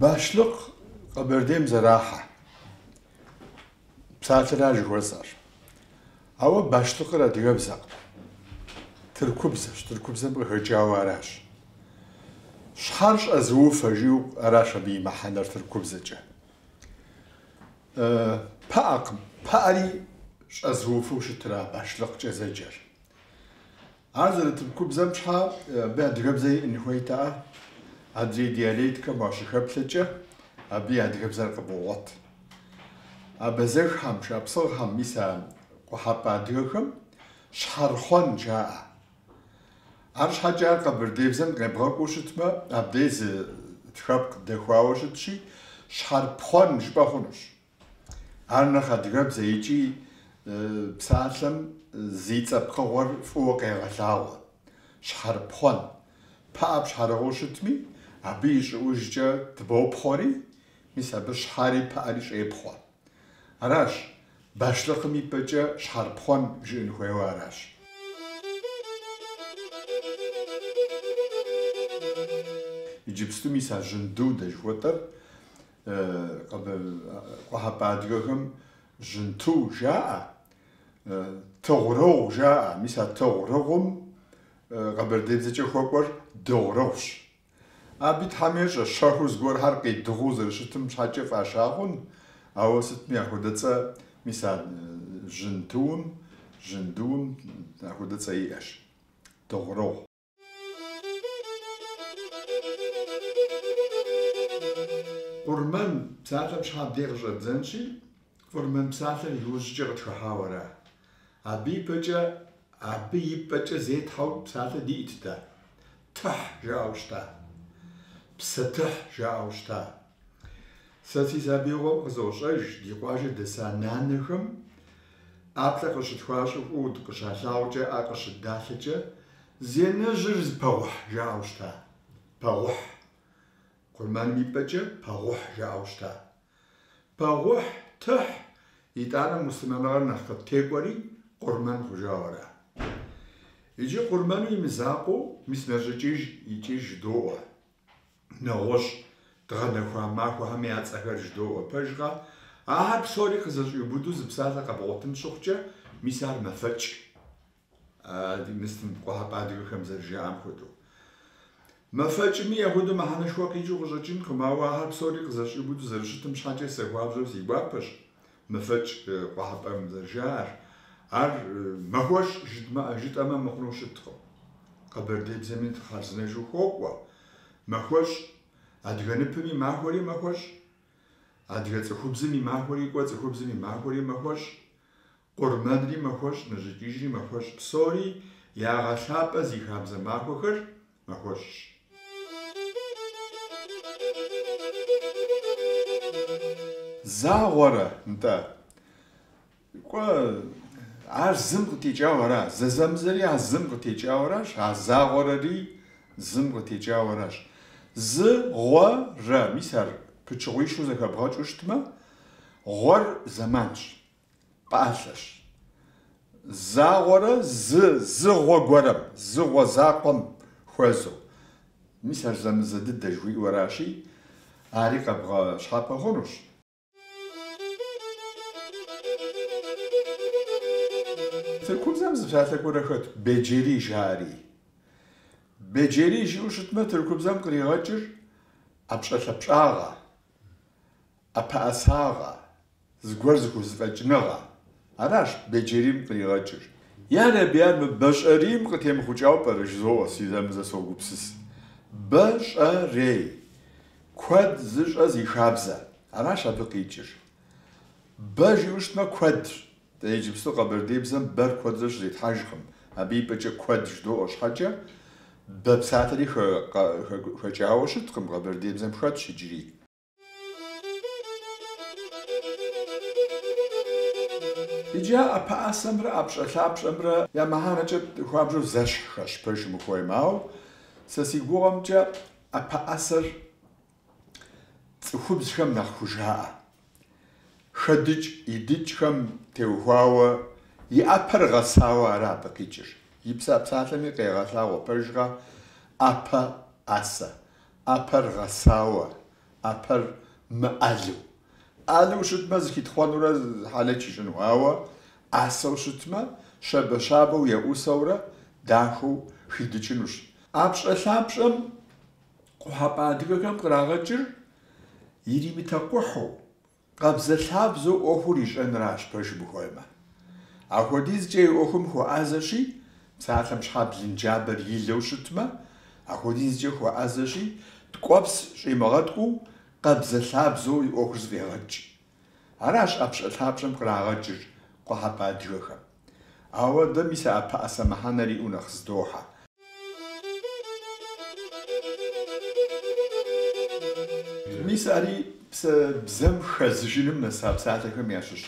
Башлыкъ Къэбэрдейм зэрахьэ псалъэра жыхуэсӏэр. Ауэ Башлыкъыр адыгэбзэкъым. Тыркубзэщ, тыркубзэм къыхэкӏауэ аращ. Щхьэр щӏэзыуфэ жиӏэу аращ абы и мыхьэнэр тыркубзэкӏэ. Пыӏэкъым, пыӏэри щӏэзыуфэу щытра Башлыкъкӏэ зэджэр. Ар зэрытыркубзэм щхьэ абы адыгэбзэ иӏын хуейтэӏэ? Адрей диалектхэм уащыхэплъэкӏэ, абы и адыгэбзэр къыбогъуэт. Абазэххэм, шапсыгъхэм, мис а къухьэпӏэ адыгэхэм щхьэрхъуэн жаӏэ. Арщхьэкӏэ ар къэбэрдейбзэм къебгъэкӏуэу щытмэ, абдей зы тхэпкъ дэхуауэ щытщи, щхьэрпхъуэн жыпӏэ хъунущ. Ар нэхъ адыгэбзэ икӏи псалъэм зи цӏэ пкъыгъуэр фӏыуэ къегъэлъагъуэ, щхьэрыпхъуэн. Пыӏэ пщхьэрыгъыу щытми, абы и щӏыӏужкӏэ тыбопхъуэри, мис абы щхьэри пыӏэри щӏепхъуэ. Аращ, башлыкъым и пӏэкӏэ щхьэрыпхъуэн жыӏын хуейуэ аращ. Иджыпсту мис а жьынду дэ жыхуэтӏэр Къуэхьэпӏэ адыгэхэм жьынту жаӏэ, тыгъурыгъу жаӏэ. Мис а тыгъурыгъум къэбэрдейбзэкӏэ хуэкӏуэр дыгъурыгъущ. Абы Тхьэм ещӏэ, щэхуурэ зыгуэрхьэр къидыгъуу зэрыщытым щхьэкӏэ фӏаща хъун, ауэ сытми ахуэдэ цӏэ, мис а жьынтуум, жьындуум ахуэдэ цӏэ иӏэщ, дыгъурыгъу. Къурмэн псалъэм щхьэ абдей къыщӏэддзэнщи, Къурмэн псалъэр иужькӏэ къытхыхьауэ ара. Абы и пэкӏэ, абы и пӏэкӏэ зетхьэу псалъэ диӏэт дэ. Тыхь жаӏэу щыта. Псэ тыхь жаӏэу щыта. Сэ си сабиигъуэм къызощӏэж ди къуажэ дэса нанэхэм, ӏаплӏэ къыщытхуащӏыху дыкъыщалъагъукӏэ, ӏэ къыщыддалъэкӏэ, Зи анэжьыр зи пэгъухь жаӏэу щыта. Пэгъухь. Къурмэным и пӏэкӏэ пэгъухь жаӏэу щыта. Пэгъухь, тыхь! Итӏанэ муслъымэныгъэр нэхъ къыттекӏуэри къурмэн хъужауэ ара. Иджы къурмэну и мызакъуэу мис нэщӏикӏыж икӏыж жыдоӏуэ. нэгъуэщӏ дгъэнэхуа махуэхэми я цӏэхэр жыдоӏуэ. Пэжкъэ? Ахэр псори къызэщӏиубыдэу зы псалъэ къэбгъуэтын щыхъукӏэ, мис ар мэфэкӏ, ди мыслым къухьэпӏэ адыгэхэм зэрыжаӏам хуэдэу. Мэфэкӏми, яхуэдэу мыхьэнэшхуэ къикӏыу къыщӏэкӏынкъым, ауэ ахэр псори къызэщӏиубыдэу зэрыщытым щхьэкӏэ сэ хуабжьу си гуапэщ. Мэфэкӏ къухьэпӏэм зэрыжаӏэр, ар махуэщӏ жытӏэмэ мыхъуну щыткъым. Къэбэрдейбзэми нтӏэ хъарзынэжу хуокӏуэ, махуэщӏ, адыгэ ныпым и махуэри махуэщӏ, адыгэ цӏыхубзым и махуэри кӏуэ, цӏыхубзым и махуэри махуэщӏ, къурмэнри махуэщӏ, нэщӏикӏыжри махуэщӏ, псори ягъэлъапӏэ зи хабзэ махуэхэр Махуэщӏщ. Загъуэрэ, нтӏэ? Кӏуэ, ар зым къытекӏауэ ара? Зэзэмызэри а зым къытекӏауэ аращ, а загъуэрэри зым къытекӏауэ аращ. Зы, гъуэ, рэ, мис ар пычыгъуищу зэхэбгъэкӏыу щытмэ, гъуэр зэманщ. Пӏалъэщ. Загъуэрэ зы зыгъуэ гуэрэм, зыгъуэ закъуэм хуэзэу. Мис ар зэмызэ дыдэ жыхуиӏуэращи, ари къэбгъэщхьэпэ хъунущ. Тыркубзэм зы псалъэ гуэрэ хэт, Беджери жаӏэри. Беджери жиӏэу щытмэ, тыркубзэм къригъэкӏыр ӏэпщӏэлъапщӏагъэ. ӏэпэӏэсагъэ, зыгуэр зыхузэфӏэкӏыныгъэ, аращ Беджерим къригъэкӏыр. Я Рэби, ар мы Бэщӏэрейм къытемыхъукӏауэ пӏэрэ жызоӏуэ, сэ зэмызэ согупсыс. Бэ-щӏэ-рей, куэд зыщӏэ зи хабзэ, аращ абы къикӏыр. Бэ жиӏэу щытмэ, куэдщ, дэ иджыпсту къэбэрдейбзэм бэр куэдрэ щызетхьэжкъым, абы и пӏэкӏэ куэд жыдоӏуэ щхьэкӏэ, бэ псалъэри хэкӏауэ щыткъым, къэбэрдейбзэм хэтщ иджыри. Иджы а ӏэпэӏэсэмрэ ӏэпщӏэлъапщӏэмрэ я мыхьэнэкӏэ хуабжьу зэщхьхэщ, пэжым ухуеймэ. Ауэ сэ си гугъэмкӏэ ӏэпэӏэсэр цӏыхубзхэм нэхъ хужаӏэ. Хэдыкӏ идыкӏхэм теухуауэ и ӏэпэр гъэсауэ ара абы къикӏыр. И псэ псалъэми къегъэлъагъуэ пэжкъэ ӏэпэ ӏэсэ. ӏэпэр гъэсауэ, ӏэпэр мыӏэлу. ӏэлу щытмэ, зыхитхъуэнурэ хьэлэч ищӏыну, ауэ ӏэсэу щытмэ, щабэщабэу еӏусэурэ дахэу хидыкӏынущ. ӏэпщӏэлъапщӏэм къухьэпӏэ адыгэхэм кърагъэкӏыр иримытэкъухьу, Къабзэлъабзэу ӏуэхур ищӏэнращ пэжым ухуеймэ. Апхуэдизкӏэ и ӏуэхум хуэӏазэщи, псалъэм щхьэ блынджабэр илэу щытмэ, апхуэдизкӏэ хуэӏазэщи, ткӏуэпс щӏимыгъэткӏуу къабзэлъабзэу и ӏуэхур зэфӏегъэкӏ. Аращ ӏэпщӏэлъапщӏэм кърагъэкӏыр къухьэпӏэ адыгэхэм. Ауэ дэ мис а ӏэпэӏэсэ мыхьэнэр иӏэу нэхъ здохьэ. Мис ари псэ бзэм хэзыжыным нэса псалъэхэм ящыщщ.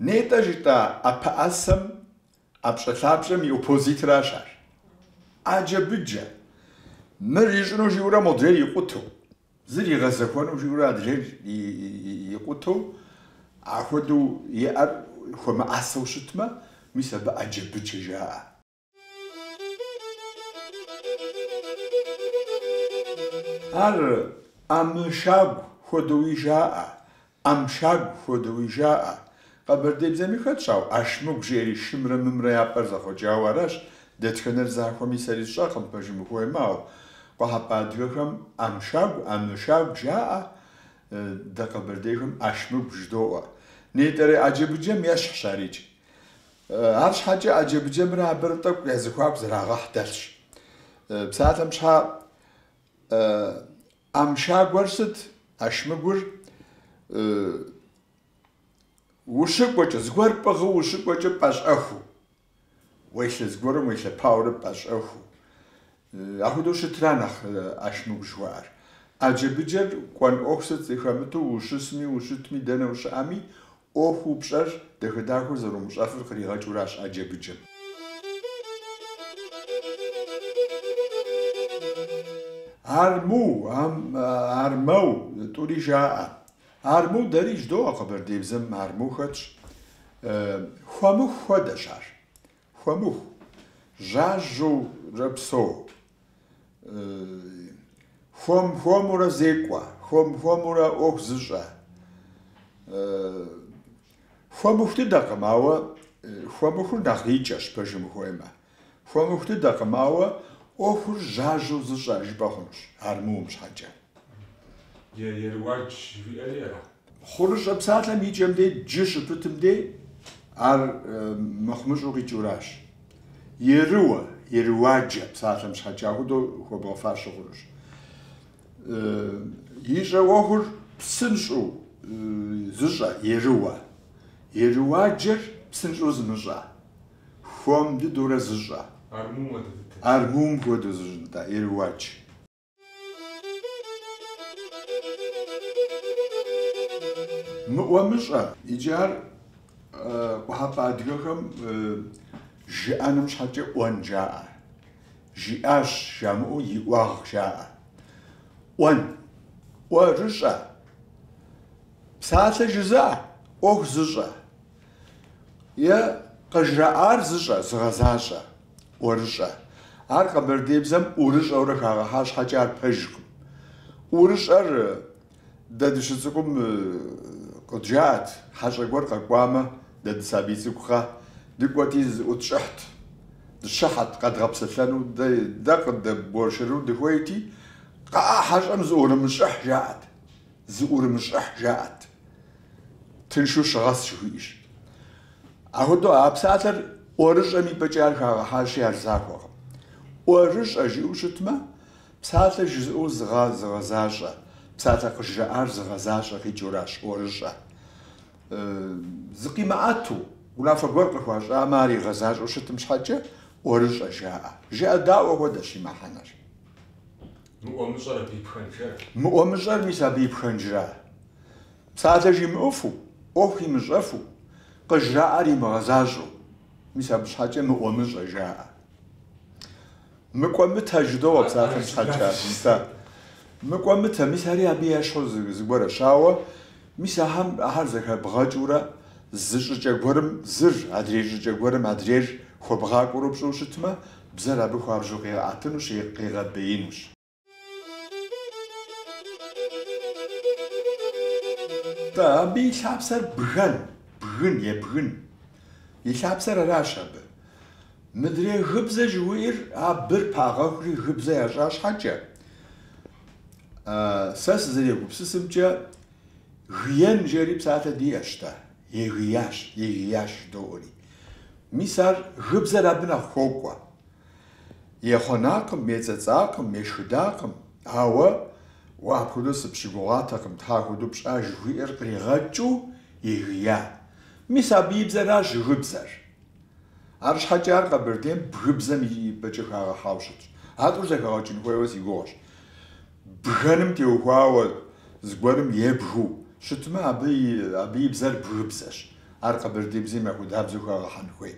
Нетӏэ жытӏа ӏэпэӏэсэм ӏэпщӏэлъапщӏэм и оппозитращ ар. Ӏэджэ-быджэ. Мыр ищӏыну жиӏэурэ модрейр икъутэу. Зыр игъэзэхуэну жиӏэурэ адрейр икъутэу, ахуэдэу иӏэр хуэмыӏэсэу щытмэ, мис абы ӏэджэ-быджэ жаӏэ. Ар ӏэмышагу хуэдэуи жаӏэ, ӏэмшагу хуэдэуи жаӏэ. Къэбэрдейбзэми хэтщ, ау ӏэшмыгу жери шымрэ мымрэ я пӏэр зэхъуэкӏауэ аращ, дэтхэнэр захуэми сэри сщӏэркъым пэжым ухуеймэ, ау къухьэпӏэ адыгэхэм ӏэмшагу, ӏэмышагу жаӏэ, дэ къэбэрдейхэм ӏэшмыгу жыдоӏуэ. Нетӏэрей ӏэджэ-быджэм ещхьщ арикӏ. Арщхьэкӏэ ӏэджэ-быджэмрэ абырэ тӏэкӏу я зэхуаку зэрагъэхь дэлъщ. Псалъэм щхьа ӏэмшагур сыт, ӏэшмыгур ущыкӏуэкӏэ, зыгуэр пӏыгъыу ущыкӏуэкӏэ пӏэщӏэхуу, уелъэ зыгуэрым уелъэпауэрэ пӏэщӏэхуу, ахуэдэу щытра нэхъ ӏэшмыгу жыхуаӏэр. ӏэджэ-быджэр кӏуэн ӏуэху сыт зыхэмыту ущысми, ущытми, дэнэ ущыӏэми, ӏуэхуу пщӏэр дахэ-дахэу зэрумыщӏэфыр къригъэкӏыуращ ӏэджэ-быджэм. Арму, ам, армэу, тӏури жаӏэ. Арму дэри жыдоӏэ, къэбэрдейбзэм арму хэтщ. Хуэмыху хуэдэщ ар. Хуэмыху, жьажьэурэ псэу. Хуэм-хуэмурэ зекӏуэ, хуэм-хуэмурэ ӏуэху зыщӏэ. Хуэмыху дыдэкъым, ауэ хуэмыхур нэхъ икӏэщ, пэжым ухуеймэ. Хуэмыху дыдэкъым, ауэ ӏуэхур жьажьэу зыщӏэ жыпӏэ хъунущ, армум щхьэкӏэ. Еруадж жыхуиӏэри ара? Хъурыщӏэ псалъэм и кӏэм дей джы щыпытым дей ар мыхъумыщӏу къикӏыуращ. Ерыуэ, Ерыуаджэ псалъэм щхьэкӏэ ахуэдэу хуэбгъэфащэ хъурыщӏ. Ищӏэ ӏуэхур псынщӏэу зыщӏэ, Ерыуэ. Ерыуаджэр псынщӏэу зымыщӏэ, хуэм дыдэурэ зыщӏэ. Армум хуэдэу зыщӏэ нтӏэ, Ерыуадж. Мыӏуэмыщӏэ, иджы ар къухьэпӏэ адыгэхэм жыӏэным щхьэкӏэ ӏуэн жаӏэ. Жиӏащ жамыӏэу иӏуагъ жаӏэ. ӏуэн, ӏуэрыщӏэ, псалъэ жызыӏэ, ӏуэху зыщӏэ. Е къыжраӏар зыщӏэ, зыгъэзащӏэ, ӏуэрыщӏэ. Ар къэбэрдейбзэм ӏурыщӏэурэ хагъэхьа щхьэкӏэ ар пэжкъым. ӏурыщӏэр дэ дыщыцӏыкӏум къыджаӏэт, хьэщӏэ гуэр къэкӏуамэ, дэ дысабий цӏыкӏукъэ, дыкӏуэти зыӏутщӏыхьт, дыщыхьэт къэдгъэпсэлъэну, дэ къыддэуэршэрыну дыхуейти, кхъыӏэ, хьэщӏэм зыӏурымыщӏыхь, жаӏэт. Зыӏурымыщӏыхь жаӏэт. Тыншу щыгъэс жыхуиӏэщ. Ахуэдэу а псалъэр ӏуэрыщӏэм и пӏэкӏэ ар хагъэхьащи, ар захуэкъым. ӏуэрыщӏэ жиӏэу щытмэ, псалъэр жызыӏэу зыгъа, зыгъэзащӏэ, псалъэр къыжраӏар зыгъэзащӏэ къикӏыуращ, ӏуэрыщӏэ. Зыкъимыӏэту, унафэ гуэр къыхуащӏамэ, ар игъэзащӏэу щытым щхьэкӏэ ӏуэрыщӏэ жаӏэ. Жыӏэдаӏуэ хуэдэщ и мыхьэнэр. Мыӏуэмыщӏэр мис абы и пхэнжра. Псалъэ жимыӏэфу, ӏуэху имыщӏэфу, къыжраӏэр имыгъэзащӏэу. Мис абы щхьэкӏэ мыӏуэмыщӏэ жаӏэ. Мыкӏуэмытэ жыдоӏэ псалъэм щхьэкӏэ, мис а мыкӏуэмытэ, мис ари абы ещхьу зыгуэрщ, ауэ Мис ахэм ахэр зэхэбгъэкӏыурэ зы щӏыкӏэ гуэрым зыр, адрей щӏыкӏэ гуэрым адрейр хуэбгъакӏуэурэ пщӏыу щытмэ, бзэр абы хуабжьу къигъэӏэтынущ е къигъэбеинущ. Абы и лъапсэр бгэн, бгын, ебгын и лъапсэр аращ абы. Мыдрей гыбзэ жыхуиӏэр а б-р пагъэхури гыбзэ ящӏа щхьэкӏэ, Сэ сызэрегупсысымкӏэ, гиен жери псалъэ диӏэщ-тӏэ, егиящ, егиящ жыдоӏэри. Мис ар гыбзэр абы нэхъ хуокӏуэ. Ехъуэнакъым, ецӏэцӏакъым, ешхыдакъым, ауэ уэ апхуэдэу сыпщыгугъатэкъым, тхьэ апхуэдэу пщӏа жыхуиӏэр къригъэкӏыу егия. Мис абы и бзэращ гыбзэр. Арщхьэкӏэ ар Къэбэрдейм бгыбзэм и пӏэкӏэ хагъэхьауэ щытщ. А тӏур зэхэгъэкӏын хуейуэ си гугъэщ. Бгэным теухуауэ зыгуэрым ебгыу щытмэ, абы и, абы и бзэр бгыбзэщ. Ар къэбэрдейбзэм ахуэдабзэу хагъэхьэн хуей.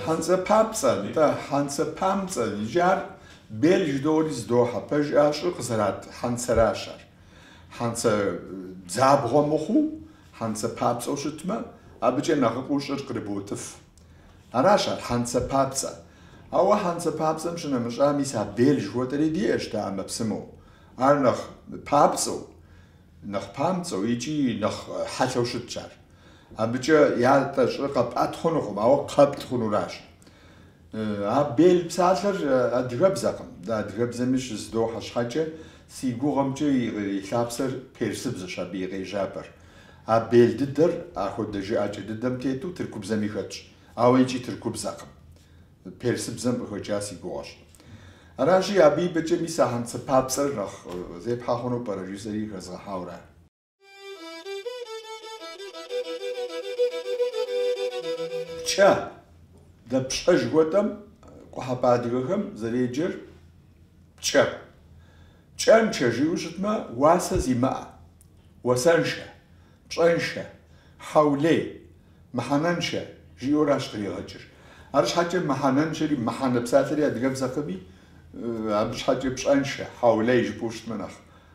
Хьэнцэ папцӏэ, нтӏэ, хьэнцэ памцӏэ, иджы ар бел жыдоӏэри зыдохьэ. Пэж, а щӏыр къызэратӏ хьэнцэращ ар. Хьэнцэ дзабгъуэ мыхъуу, хьэнцэ папцӏэу щытмэ, абыкӏэ нэхъыфӏу щӏыр кърыботӏыф. Аращ ар, хьэнцэ папцӏэ. Ауэ хьэнцэ папцӏэм щынэмыщӏа мис а бел жыхуэтӏэри диӏэщ дэ ӏэмэпсымэу. Ар нэхъ папцӏэу, нэхъ памцӏэу икӏи нэхъ хьэлъэу щытщ ар. Абыкӏэ ятӏэ щӏыр къэпӏэт хъунукъым, ауэ къэптӏ хъунуращ. А бел псалъэр адыгэбзэкъым. Дэ адыгэбзэми щызыдохьэ щхьэкӏэ, си гугъэмкӏэ и лъапсэр персыбзэщ абы и къежьапӏэр. А бел дыдэр ахуэдэ жыӏэкӏэ дыдэм тету тыркубзэми хэтщ, ауэ икӏи тыркубзэкъым. Персыбзэм къыхэкӏа си гугъэщ. Аращи, абы и пӏэкӏэ мис а хьэнцэ папцӏэр нэхъ зепхьэ хъуну пӏэрэ жысӏэри хэзгъэхьауэ ара? Пкӏэ, дэ пщӏэ жыхуэтӏэм къухьэпӏэ адыгэхэм зэреджэр пкӏэ. Пкӏэнчъэ жиӏэу щытмэ, уасэ зимыӏэ, уасэншэ, пщӏэншэ, хьэулей, мыхьэнэншэ жиӏэуращ къригъэкӏыр. Арщхьэкӏэ мыхьэнэншэри, мыхьэнэ псалъэри адыгэбзэкъыми, абы щхьэкӏэ пщӏэншэ, хьэулей жыпӏэу щытмэ нэхъ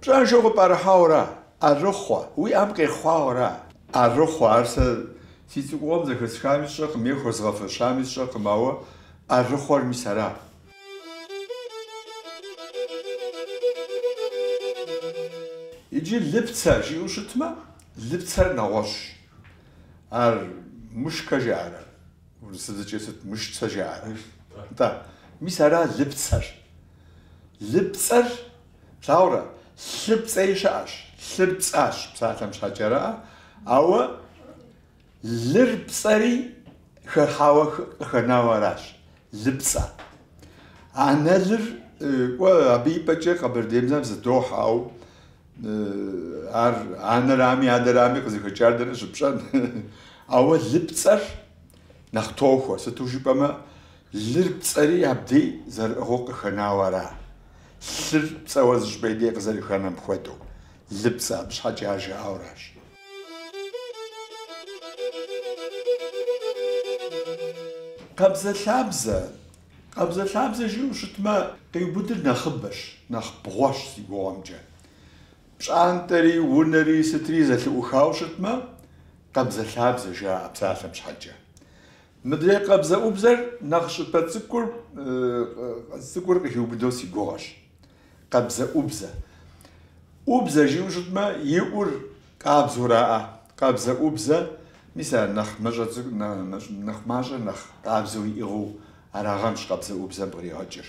Пщӏэншэу къыпӏэрыхьауэра, ӏэрыхъуэ, уи ӏэм къехъуауэра? ӏэрыхъуэ, ар сэ си цӏыкӏугъуэм зэхэсхами сщӏэркъым е хуэзгъэфэщами сщӏэркъым, ауэ ӏэрыхъуэр мис ара. Иджы лыпцэ жиӏэу щытмэ, лыпцэр нэгъуэщӏщ. Ар мышкэ жаӏэрэ, урысыбзэкӏэ сыт, мышцэ жаӏэрэ? Нтӏэ, мис ара лыпцэр. Лыпцӏэр Плъагъурэ, лъы пцӏэи щыӏэщ, лъыр пцӏащ псалъэм щхьэкӏэрэ, ауэ лыр пцӏэри хыхьауэ къыхэнауэ аращ, лыпцӏэ. Анэлыр, кӏуэ, абы и пӏэкӏэ къэбэрдейбзэм зыдохь, ауэ ар анэрами, адэрами къызыхэкӏар дэнэ щыпщӏэн? Ауэ лыпцӏэр нэхъ тохуэ, сыту жыпӏэмэ, лыр пцӏэри абдей зэрыӏыгъыу къыхэнауэ ара? Лъыр пцӏэуэ зы щӏыпӏэ дей къызэрыхэнэм хуэдэу, лыпцӏэ абы щхьэкӏэ ар жаӏэуращ. Къабзэлъабзэ. Къабзэлъабзэ жиӏэу щытмэ, къиубыдыр нэхъыбэщ, нэхъ бгъуэщ си гугъэмкӏэ. Пщӏантӏэри унэри сытри зэлъыӏухауэ щытмэ, къабзэлъабзэ, жаӏэ псалъэм щхьэкӏэ. Мыдрей къабзэӏубзэр нэхъ щӏыпӏэ цӏыкӏу цӏыкӏур къыхиубыдэу си гугъэщ. Къабзэӏубзэ. ӏубзэ жиӏэу щытмэ, и ӏур къабзэураӏэ, къабзэӏубзэ, мис ар нэхъ, нэхъ мащӏэ, нэхъ къабзэу иӏыгъыу арагъэнщ къабзэӏубзэм къригъэкӏыр.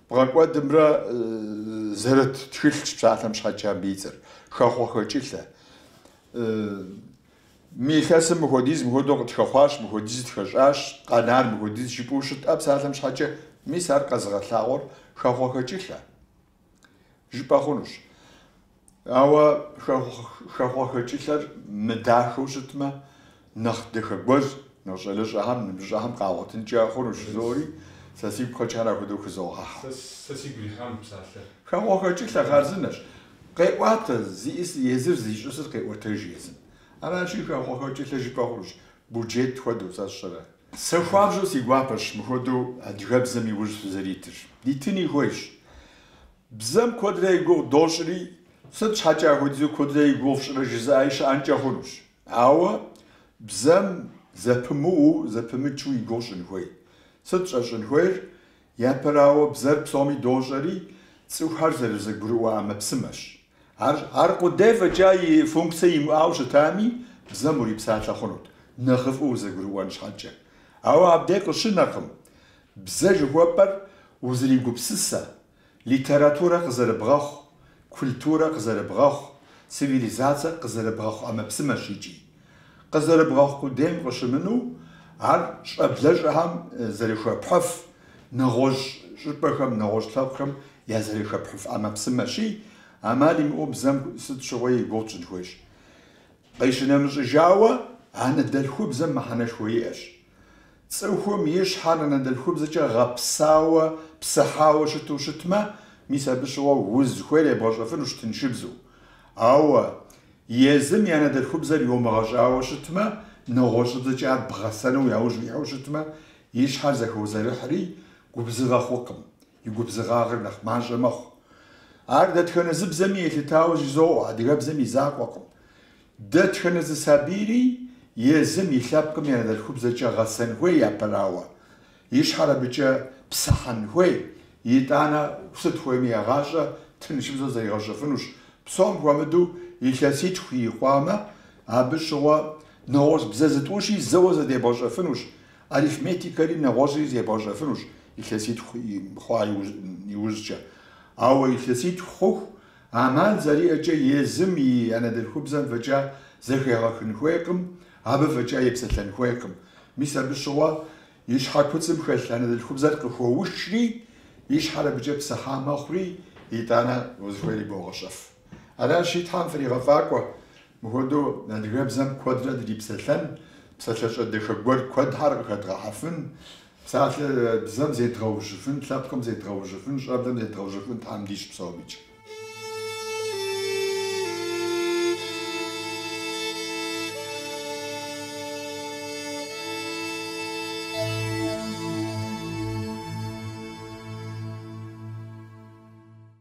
Бгъэкӏуэдымрэ зэрыт тхылъщ псалъэм щхьэкӏэ абы и цӏэр, хэхъуэхэкӏылъэ. Мы илъэсым мыхуэдиз мыхуэдэу къытхэхъуащ, мыхуэдиз тхэщӏащ, къэнар мыхуэдиз жыпӏэу щытӏэ псалъэм щхьэкӏэ, мис ар къэзыгъэлъагъуэр хэхъуэхэкӏылъэ жыпӏэ хъунущ. Ауэ хэхъуэхэкӏылъэр мыдахэу щытмэ, нэхъ дахэ гуэр нэхъ щӏалэщӏэхэм, ныбжьыщӏэхэм къагъуэтынкӏэ хъунущ жызоӏэри, сэ сигу къэкӏар апхуэдэу хызогъэхьэ. Сэ сигу ирихьам псалъэ. Хэхъуэхэкӏылъэ хъарзынэщ. Къеӏуатэ, зиӏис езыр, зищӏысыр къеӏуэтэж езым. Аращи, хэхъуэхэкӏылъэ жыпӏэ хъунущ, буджет хуэдэу, сэ сщӏэрэ. Сэ хуабжьу си гуапэщ мыхуэдэу адыгэбзэм и ужь фызэритыр. Дитыни хуейщ. Бзэм куэдрэ и гугъу дощӏри, сыт щхьэкӏэ апхуэдизу куэдрэ и гугъу фщӏрэ жызыӏаи щыӏэнкӏэ хъунущ. Ауэ бзэм зэпымыуу, зэпымычу и гугъу щӏын хуей. Сыт щӏэщӏын хуейр? Япэрауэ, бзэр псоми дощӏэри, цӏыхухэр зэрызэгурыӏуэ ӏэмэпсымэщ. Аркъудей фӏэкӏа и функцэ имыӏэу щытами, бзэм урипсалъэ хъунут, нэхъыфӏу узэгурыӏуэн щхьэкӏэ. Ауэ абдеж къыщынэркъым. Бзэ жыхуэпӏэр узэригупсысэ, литературэ къызэрыбгъэхъу, культурэ къызэрыбгъэхъу, цивилизацэ къызэрыбгъэхъу ӏэмэпсымэщ икӏи. Къызэрыбгъэхъу къудейм къыщымынэу, ар щӏэблэщӏэхэм зэрыхуэпхьыф нэгъуэщӏ щӏыпӏэхэм, нэгъуэщӏ лъэпкъхэм я зэрыхуэпхьыф ӏэмэпсымэщи, ӏэмал имыӏэу бзэм сыт щыгъуи и гугъу тщӏын хуейщ. Къищынэмыщӏыжауэ, анэдэлъхубзэм мыхьэнэшхуэ иӏэщ. Цӏыхум и щхьэр анэдэлъхубзэкӏэ гъэпсауэ, псыхьауэ щыту щытмэ, мис абы щыгъуэ узыхуейр ебгъэщӏэфынущ тыншыбзу. Ауэ езым и анэдэлъхубзэр йомыгъэщӏауэ щытмэ, нэгъуэщӏыбзэкӏэ ар бгъэсэну яужь уихьэу щытмэ, и щхьэр зэхозэрыхьри, губзыгъэ хъукъым, и губзыгъагъыр нэхъ мащӏэ мэхъу. Ар дэтхэнэ зы бзэми елъытауэ жызоӏэ, адыгэбзэм и закъуэкъым. Дэтхэнэ зы сабийри езым и лъэпкъым я анэдэлъхубзэкӏэ гъэсэн хуей япэрауэ, и щхьэр абыкӏэ псыхьэн хуей, итӏанэ сыт хуейми егъащӏэ, тыншыбзэу зэригъэщӏэфынущ, псом хуэмыдэу илъэситху ирикъуамэ, абы щыгъуэ нэгъуэщӏ бзэ зытӏущи зэуэ зэдебгъэщӏэфынущ, арифметикэри нэгъуэщӏри зебгъэщӏэфынущ илъэситху хъуа иужькӏэ. Ауэ илъэситху хъуху Амал зэриӏэкӏэ езым и анэдэлъхубзэм фӏэкӏа зэхегъэхын хуейкъым, абы фӏэкӏа епсэлъэн хуейкъым. Мис абы щыгъуэ и щхьэ куцӏым хэлъ анэдэлъхубзэр къыхуэушри, и щхьэр абыкӏэ псыхьа мэхъури, итӏанэ узыхуейри богъэщӏэф. Аращи, Тхьэм фригъэфӏакӏуэ, Мыхуэдэу адыгэбзэм куэдрэ дрипсэлъэн, псалъэщӏэ дахэ гуэр куэдхэр къыхэдгъэхьэфын, псалъэ бзэм зедгъэужьыфын, лъэпкъым зедгъэужьыфын, щӏэблэм зедгъэужьыфын Тхьэм дищӏ псомикӏ.